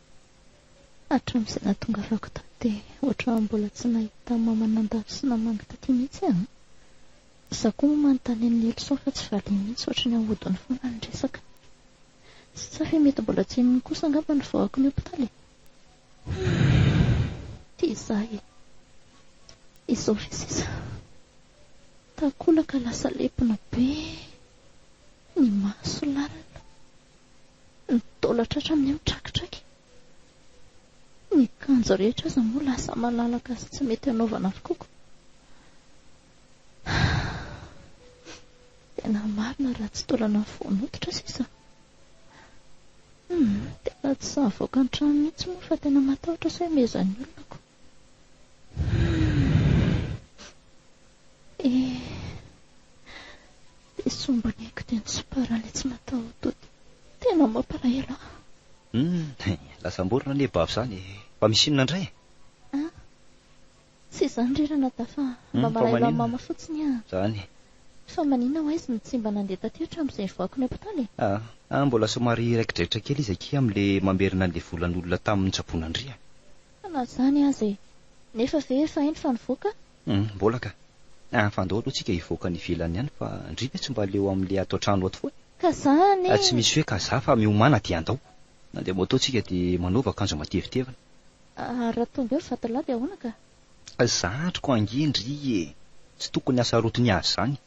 Hatramin'izay nahatongavako tato dia ohatran'ny mbola tsy nahita mama nandalo sy namangy taty mihitsy aho. Izaho koa moa manontany an'i Nelson fa tsy valiany mihitsy ohatry ny ahodiny foana ny resaka. Tsy tsapa hoe mety mbola tsy henony kosa angamba ny vahoaka ny hopitaly e! Humm! Tia izaho e! Izao ve sisa? Takolaka lasa lepona be, ny maso lalina, ny taola tratra amin'ny eo trakitraky. Ny akanjo rehetra aza moa lasa malalaka sy tsy mety anaovana avokoako. Tena marina raha tsy taolana ny fo noditra sisa. Tena tsy sahavoaka an-trano mihitsy moa fa tena matahotra sao himezan'ny olona aho. Dia sombiny aiko dia nisompara ilay tsy mataho-dody. Tena mampalahelo ahy. Hum, lasa am-borona anie bavy izany e. Fa misy inona indray e? Ah, tsy izany ry Ranadahy fa mba hmm, malahelo an'i Mama fotsiny aho. Izany. Fa maninona ho aizy no tsy mba nandeha taty hatramin'izay nivoahako ny hopitaly e? Ah, ah, mbola somary raiki-draitra kely izy akia amin'ilay mamerina an'ilay volan'olona tamin'ny tsaboan'Andriana. Fa na izany aza e! Nefa ve efa hainy fa nivoaka? Humm mbola ka! An fa andao aloha tsika hivoaka any ivelany any fa ndry ve tsy mba leo amin'le ato an-trano ato foana? Ka za anie! Tsy misy hoe ka za fa miomàna dia andao! Mandeha moto tsika dia manaova akanjo matevitevina. Ary raha tonga eo vatolahy dia ahoana ka? Za andriko ange ndry e! Tsy tokony hasarotin'i azy zany!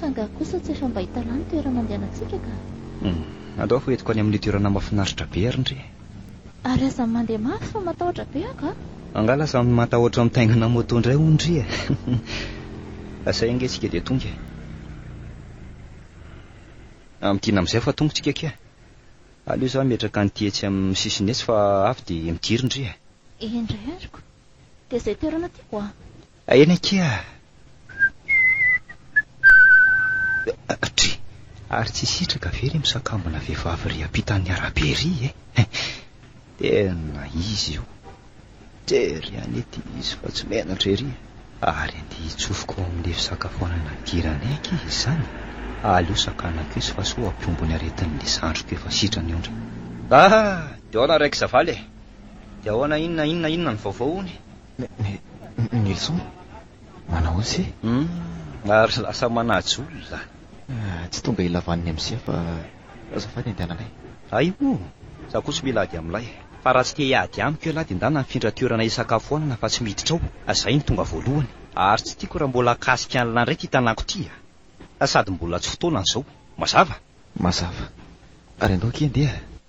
Fa angaha kosa tsy efa mba hitalà ny toerana andehanantsika ka? Humm, andao hoentiko any amin'io toerana mahafinaritra be ary ndry e! Ary aza mandeha mafy fa matahotra be aho ka! Angaha lasa matahotra mitaingina moto indray hono ndry e! Asay ange isika dia tonga e! Amintiana amin'izay fa tonga isika akia! Aleo izaho hametraka an'ity etsy amin'ny sisiny etsy fa avy dia midiry ndry e! Endrey ariko! Dia izay toerana tiako a! Eny akia a! Tri! Ary tsy sitraka ve ry misakambina vehivavy ry ampitan'ny arabe ry e! Tena izy io! Tery any ity izy fa tsy menatra ery e! Ary andeha hitsofoka ao amin'ny fisakafoanana nidiranay akia izy izany e! Aleo sakanako izy fa sao hampihombo ny aretin'ilay zandriko efa sitrana io ndry! Ah! Dia ahoana ry Raikizavala e! Dia ahoana inona inona inona ny vaovao hono e! Nelson, manao ose. Hum, ary lasa manajo olona. Tsy tonga ilavan'ny MCA fa azafady andehananay. Aiho, za koa tsy mila ady amin'ilay. Fa raha tsy te hiady amiko ialahy dia ndana mifindra toerana hisakafoanana fa tsy miditra ao, zay no tonga voalohany. Ary tsy tiako raha mbola hakasika an'ilay ndray ity tanàko ity a! Sady mbola tsy fotoanany zao. Mazava? Mazava. Ary andao akia andeha.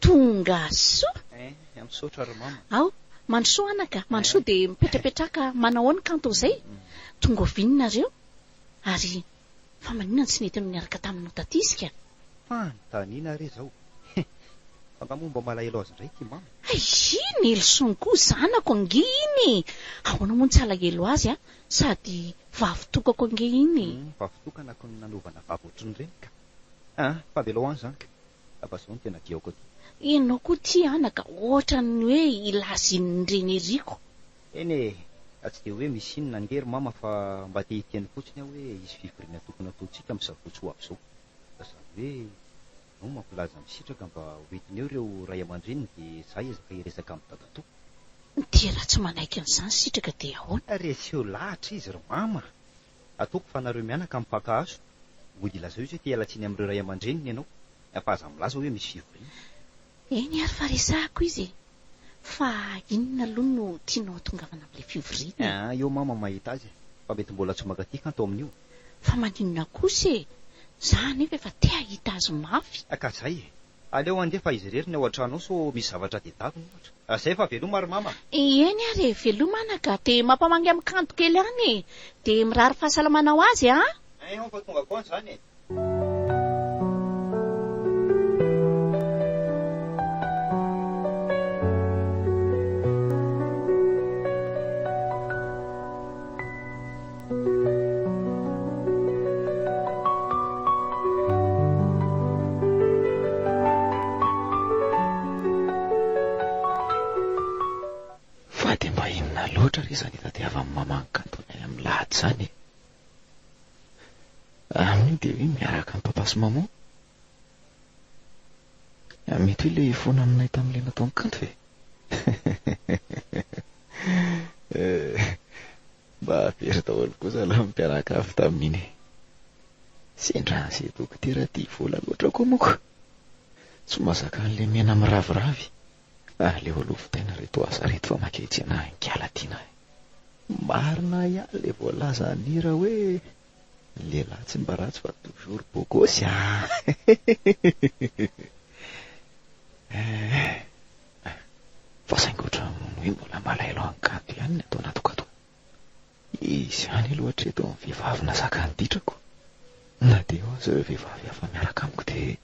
Tonga soa! Eh, misaotra ry mama. Ao, mandrosoa anaka, mandrosoa dia mipetrapetraka manao ao ny kanto izay. Tonga oviana nareo? Ary fa maninona no tsy nety niaraka taminao taty isika? Fanontaniana re izao. Heh, fa nga moa mba malahelo azy indray ity mama? Hay i Nelson koa zanako ange iny e! Ahoana moa no tsy halahelo azy a! Sady vavitokako ange iny e! Hum, vavitokana ko no nanovana vavy ohatrin'ireny ka! Ah, fa avelao any izany ka! Aba zao no tena diaoko aty. Enao koa ty anaka ohatran'ny hoe ilazin'ny reniriko. Eny e! Ka tsy dia hoe misy inona ange ry mama fa mba te hiteny fotsiny aho hoe hisy fivoriana tokony hataontsika amin'ny sabotsy ho avy izao. Ka zany hoe enao mampilaza ny sitraka mba ho entiny eo ireo ray aman-dreniny dia za hiezaka hiresaka amin'ny dadatoa. Dia raha tsy manaiky an'izany sitraka dia ahoana? Reseo lahatra izy ry mama! Ataoko fa nareo mianaka amin'ny mpaka hazo mody ilazao izy hoe te-hiala tsiny amin'ireo ray aman-dreniny ianao, fa aza milaza hoe misy fivoriana. Eny ary fa resahako izy e! Fa inona aloha no tianao hatongavana amin'ilay fivoriana e? Aa eo mama mahita azy e! Fa mety mbola tsy mankaty kanto amin'io. Fa maninona kosa e! Za anefa efa te hahita azy mafy. Ka zay e! Aleo handefa izy irery ny ao an-trano ao sao misy zavatra adedavina ohatra. Zay fa veloma ry mama a! Eny ary e, veloma ana ka, dia mampamangy amin'ny kanto kely any e! Dia mirary fahasalamana ho azy an! Hein hon fa tonga foana izany e! Fa dia mba inona loatra re izany hitadiavan'ny maman'i Kantona any amin'ny lahady izany e? Aminy dia hoe miaraka amin'i Papa sy Maman? Mety hoe ilay foana aminay tamin'ilay nataon'i Kanto e? Mba very daholo koa zalahy mpiaraka avy tamin'iny. Sendra an'izay dokotera tia vola loatra koa moa ko. Tsy mahazaka an'ilay mena miraviravy. Aleo aloha vitaina reto asa reto fa maika hitsena any kala ty nahy. Marina ihany le voalaza an'i Hira hoe ny lehilahy tsy mba ratsy fa toujours beau gosse ah! Eh! fa saingy ohatran'ny hoe mbola malaelo an-kanto ihany ny ato anatiko ato. Izy ihany aloha hatreto ny vehivavy nahazaka ny ditrako. Na dia eo aza ireo vehivavy hafa miaraka amiko dia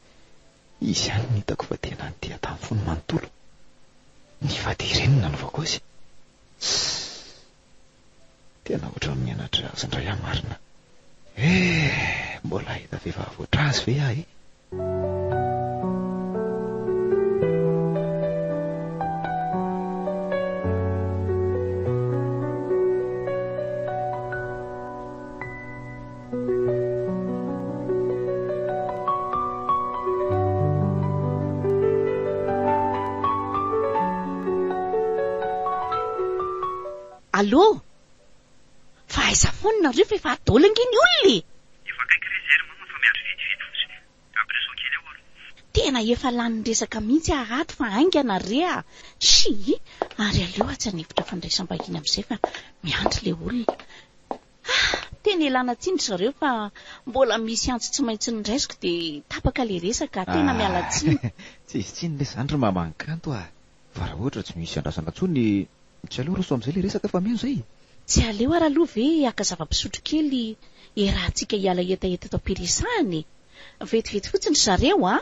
izy ihany no hitako fa tena nitia tamin'ny fony manontolo. Nifady ireny no nanovako azy. Sss. Tena ohatran'ny mianatra azy indray aho marina eh! Mbola hahita vehivavy ohatr' azy ve aho eh? Allô! Fa aiza foana nareo fa efa adôla ange ny olona e! Efa akaiky re Zéry mama fa miandry vitividy fotsiny. Ampiraiso kely eo ary. Tena efa lany resaka mihitsy aho ato fa haingana re a! Shii! Ary aleo atsy an'efitra fandraisam-bahiny amin'izay fa miandry ilay olona. Ah! Tena ialana tsiny ry zareo fa mbola misy antso tsy maintsy noraisiko dia tapaka ilay resaka. Tena miala tsiny. Tsy hisy tsiny lesy izany ry maman Kanto ah! Fa raha ohatra tsy misy andrasana intsony dia tsy aleo roso amin'izay ilay resaka fa mino izay e! Tsy aleo ary aloha ve haka zava-pisotro kely hiarahantsika hiala hetaheta eto am-piresahana e! Vetivety fotsiny ry zareo an!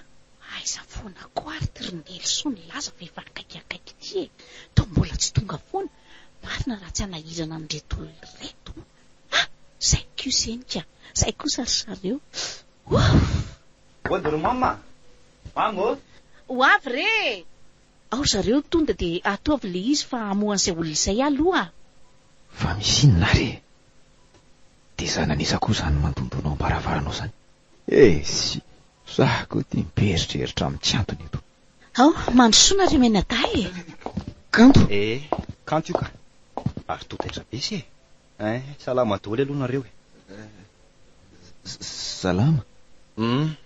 Aiza foana koa ary ty ry Nelson laza fa efa akaiky akaiky ity e! Toa mbola tsy tonga foana! Marina raha tsy hanahirana an'ireto olona ireto a! Zay kosa eny ka! Zay kosa ry zareo! Ouff! Ody ry mama a! Mama ô! Ho avy re e! Ao ry zareo tonda dia ataovy le izy fa hamoha an'izay olona izay aho aloha a! Fa misy inona ary e! Dia za nanisa koa izany mandondona ao am-baravaranao izany! Esy! Za koa ity mieritreritra amin'ny tsy antony eto! Ao, mandrosoa nareo mianadahy e! Kanto e! Kanto io ka! Ary toa taitra be se e! Salama doly aloha nareo e! Salama! Hum!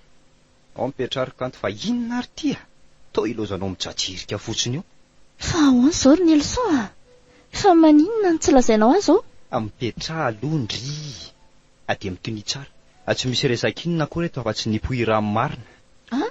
Ao mipetraha ry Kanto fa inona ary ity a! Toa ilaozanao mijajirika fotsiny eo! Fa ahoana izao ry Nelson a! Fa maninona no tsy lazainao azy ô? Mipetraha aloha ndryy! Dia mitonia tsara! Tsy misy resaka inona akory eto afa-tsy ny poiram marina! An!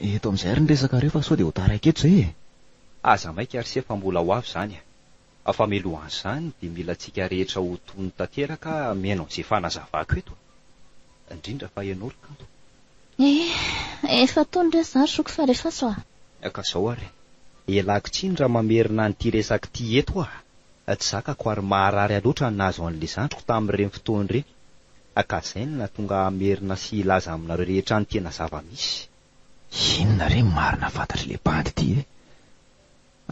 Eto amin'izay ary ny resakareo fa sao dia ho taraiky eto izay e! Aza maika ry se fa mbola ho avy izany a! Fa milohan'izany dia mila antsika rehetra ho tony tanteraka mihaino an'izay fanazavako eto a! Indrindra fa ianao ry kanto. Eh! Efa tony re za ry zoky fa refaso a! Ka izao ary, ialako tsiny raha mamerina an'ity resaka ity eto aho a! Tsy zakako ary maharary ahy loatra ny nahazo an'ilay zandriko tamin'ireny fotoana ireny. Ka izay no nahatonga ahy hamerina sy hilaza aminareo rehetra ny tena zava-misy. Inona re ny marina fantatr'ilay bandy ity e?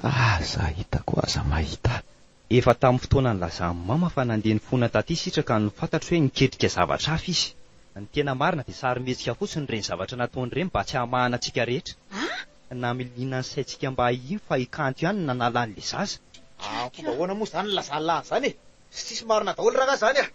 Aza hitako aza mahita ahy. Efa tamin'ny fotoana nilazan'i Mama fa nandeha nifona taty Sitraka no fantatro hoe niketrika zavatra hafa izy. Ny tena marina dia sarimihetsika fotsiny ireny zavatra nataony ireny mba tsy hahamahana antsika rehetra. Namiliana ny saintsika mba hahino fa i Kanto ihany no nanala an'ilay zaza. Ahh fomba ahoana moa zany nilazany lany zany e! Tsy tsisy marina daholo rangah zany ah!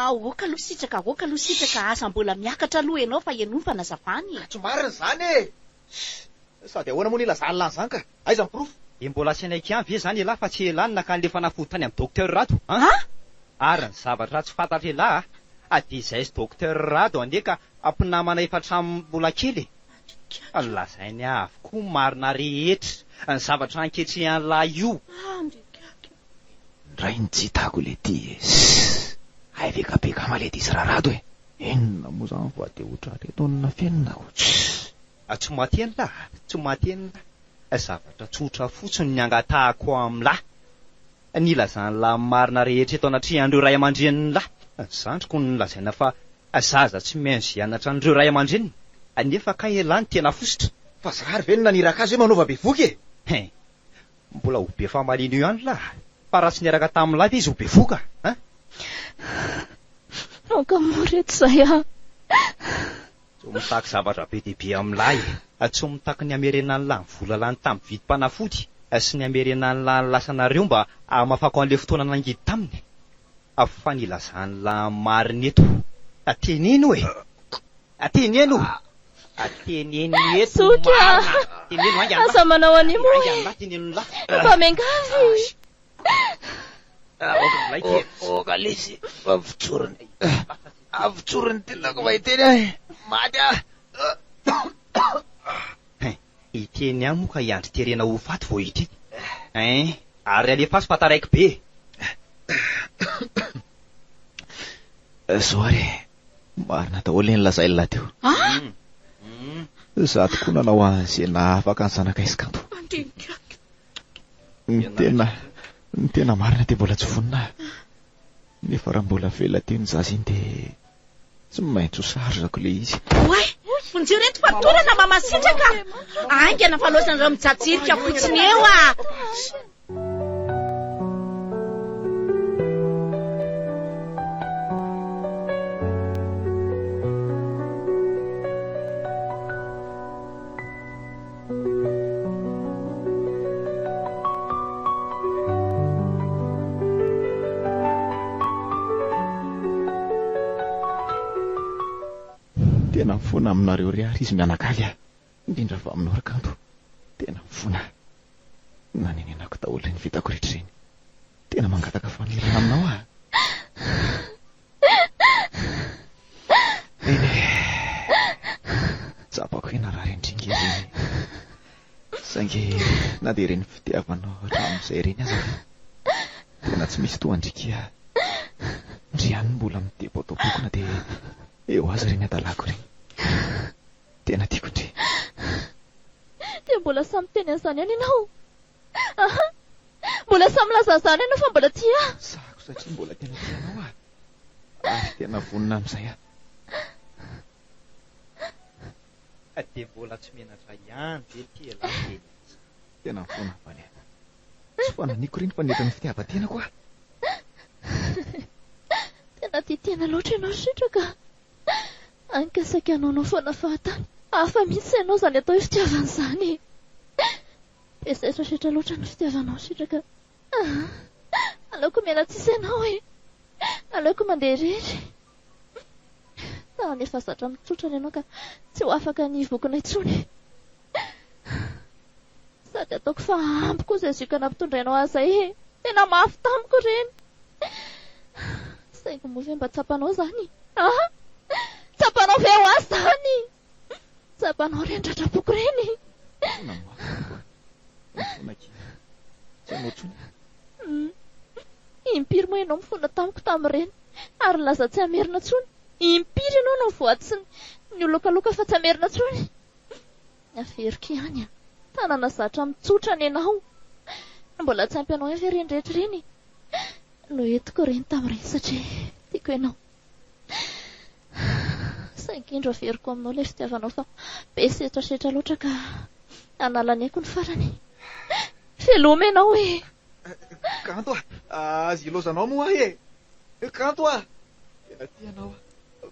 Aoka aloha sitraka aoka aloha sitraka aza mbola miakatra aloha enao fa enoy fanazavana e! Ka tsy marina izany e! Ss sady ahoana moa nilazany lany zany ka! Aiza ny porofo? Dia mbola asainay kian ve zany elah fa tsy elah no nakany le fanafody tany amin'ny docteur Rado an! An! Ary ny zavatra tsy fantatro elah a! Fa dia izay sy docteur Rado anie ka mpinamana efa hatramin'ny mbola kely e! Tsikera no lazainy avokoa ny marina rehetra ny zavatra ankehitriny an'lah io. Ndray ny tsy hitako le ty e! Sss! Hay ve ka be kama le diso rarado e! Inona moa zany fa de otrareto ny nafenako! Sss! Tsy maty an'lah! Tsy maty an'lah! Zavatra tsotra fotsiny ny angatahako amin'lah! ny ilazan'ny lahy ny marina rehetra eto anatrehan'ireo ray aman-drenin'ny lahy, zandriko no nolazaina fa zaza tsy maintsy hianatra an'ireo ray aman-dreniny, nefa kay elah ny tena fositra. Fa zary ve no naniraka azy hoe manaova bevoka e? Hein! Mbola ho be famaliana eo ihany lah, fa raha tsy niaraka tamin'ny lahy ve izy ho bevoka hein! Aoka moa re tsy zay ah! Tsy mitaky zavatra be dia be amin'ny lahy, tsy mitaky ny hamerenan'ny lahy ny vola lany tamin'ny vidim-panafody sy ny hamerenan'ny lahy ny lasanareo mba hamafako an'ilay fotoana nangidy taminy fa ny ilazan'ny lahy ny marina eto. Teneno e! Teneno! Teneno eto ny marina! Teneno ainga ny lahy! Ainga ny lahy! Teneno ny lahy! Fa miangavy e! Aoka ilay kely! Aoka lesy fa mijoro ny lahy! Avy tsorin'ny tenako vao hiteny ahy. Maty aho. Hiteny ahy moa ka i Andry terena ho faty vao hiteny. Ein, ary alefaso fa taraiky be e. Zoary e, marina daholo ny nolazain'i Lahy teo. Izaho tokoa nanao an'izay nahaafaka ny zanakay sy kanto. Ny tena, ny tena marina dia mbola tsy vonona aho. Nefa raha mbola avela aty ny zaza iny dia tsy maintsy ho sarzako ilay izy. Oay! Vonjeo ireto fatorana mamasitraka! Aingana fa loza ny rano mijajirika fotsiny eo ah! Tena mifona aminareo ry ary izy mianakavy a, indrindra fa aminao ry kanto. Tena mifona aho. Nanenenako daholo ireny vitako rehetra ireny. Tena mangataka famelana aminao aho. Eny e, tsapako hianarà ireny dringa ireny. Saingy na dia ireny fitiavanao hatramin'izay ireny aza ve, tena tsy misy toa an-dry Kia. Ndry ihany no mbola mitebo ato am-poko na dia eo aza ireny hadalàko ireny. Tena tiako ndry. Dia mbola samy teny an'izany ihany ianao. Aha! Mbola sahy milaza an'izany ianao fa mbola tia ahy. Sahako satria mbola tena tia anao aho. Ary tena vonona amin'izay aho. Ka dia mbola tsy menatra ihany ve ity elah teny azy? Tena mifona avy any aho. Tsy fananiko ireny fa nihoatra ny fitiavan-tenako aho. Tena tia tena loatra ianao sitraka. Hany ka saika hanaonao foana fahatany. Hafa mihitsy ianao izany atao hoe fitiavana izany e. Dia zaizo setra loatra ny fitiavanao sitraka ah! Aleoko miala tsisy anao e! Aleoko mandeha irery! Tany efa zatra mitsotra ny anao ka tsy ho afaka ny hivokona intsony! Sady ataoko fa ampy koa izay zioka nampitondrainao ahy izay e! Tena mafy tamiko ireny! Saingy moa ve mba tsapanao izany? Ah! Tsapanao ve ho ahy izany? Tsapanao ireny tratrapoko ireny. Foana moa. Foana kely. Tsy anao intsony. Hmm. Impiry moa ianao mifona tamiko tamin'ireny ary nilaza tsy hamerina intsony. Impiry ianao no nivoady sy niolokaloka fa tsy hamerina intsony. Averiko ihany an. Tanana zatra mitsotra ny anao. Ny mbola tsy ampy anao ihany ve ireny rehetra ireny no entiko ireny tamin'ireny satria tiako ianao. Saingy indro averiko aminao ilay fitiavanao fa be setrasetra loatra ka hanala ny aiko ny farany. Veloma ianao e! Kanto a! Aza ilaozanao moa ahy e! Kanto a! Tena tia anao aho.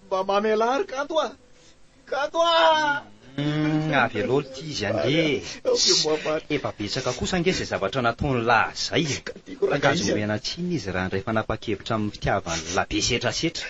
Mba mamelà ary Kanto a! Kanto ah! Avy aloha ity izy ange e! Efa betsaka kosa ange izay zavatra nataony lahy izay e! Ka aza omena tsiny izy raha handray fanapan-kevitra amin'ny fitiavany lahy be setrasetra.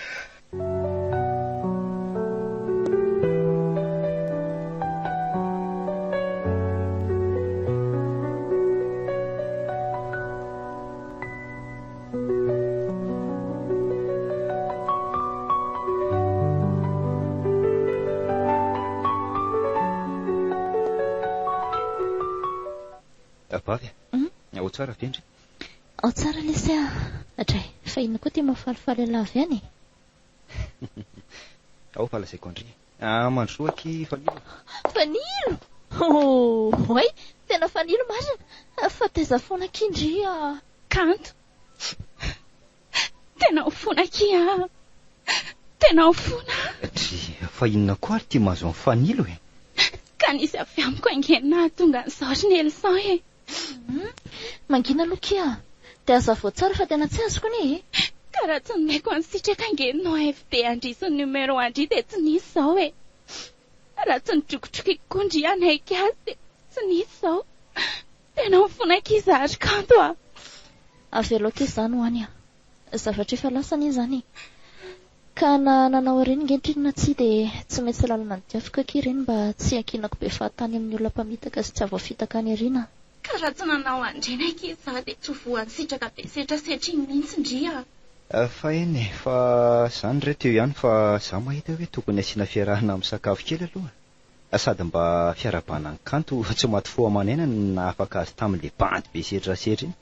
Vavy a, hmm? ao tsara ve ndry? Ao tsara lesy a. Adray, fa inona koa ity mahafalifaly an'la avy any? Ao fa lazaiko an-dry. Ah mandrosoa aky Fanilo a. Fanilo! Oh oay! Tena Fanilo marina! Fa taiza fona aky ndry a. Kanto! Tena ao fona aky a! Tena ao fona a! Dry! Fa inona koa ary ty mahazo an'i Fanilo e? Ka nisy avy amiko ange no nahatonga an'izao ry Nelson e! Humm. Mangina aloha ki a. Dia hazavao tsara fa tena tsy azoko anie e. Ka raha tsy nomeko an'i Sitraka ange no AFD an-dry sy ny numéro an-dry dia tsy nisy izao e. Raha tsy nodrokotrokiako koa ndry hanaiky azy dia tsy nisy izao. Tena mifona ki za ry Kanto a. Avelao ki izany ho any a. Zavatra efa lasa anie izany e! Ka na nanao ireny ankehitriny na tsia dia tsy maintsy lalana ny diafiko akia ireny mba tsy hiankinako be fahatany amin'ny olona mpamitaka sy tsy havoafitaka any aoriana. Ka raha tsy nanao an'ireny akia izaho dia tsy ho voan'ny sitraka be setrasetra iny mihitsy ndry a! Efa eny e! Fa izany re teo ihany fa izaho mahita hoe tokony asiana fiarahana amin'ny sakafo kely aloha a! Sady mba fiarahabana ny kanto tsy maty fo aman'aina no nahafaka azy tamin'ilay bandy be setrasetra iny.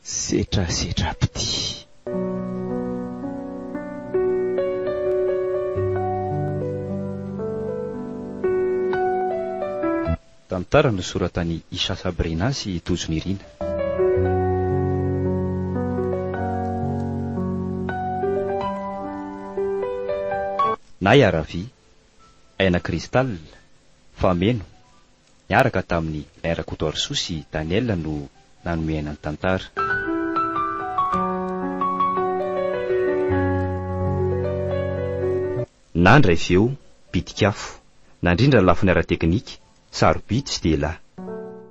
Setra setra pty. Tantara nosoratan'i Isha Sabrina sy Tojo Nirina. Nahy Aravy, Aina Crystal, Fameno, Niaraka tamin'i R Kotoarisoa sy Daniel no nanome aina ny tantara. Nandray feo, pitik'afo. Nandrindra ny lafiny ara-teknika, sarobidy sy dia lahy.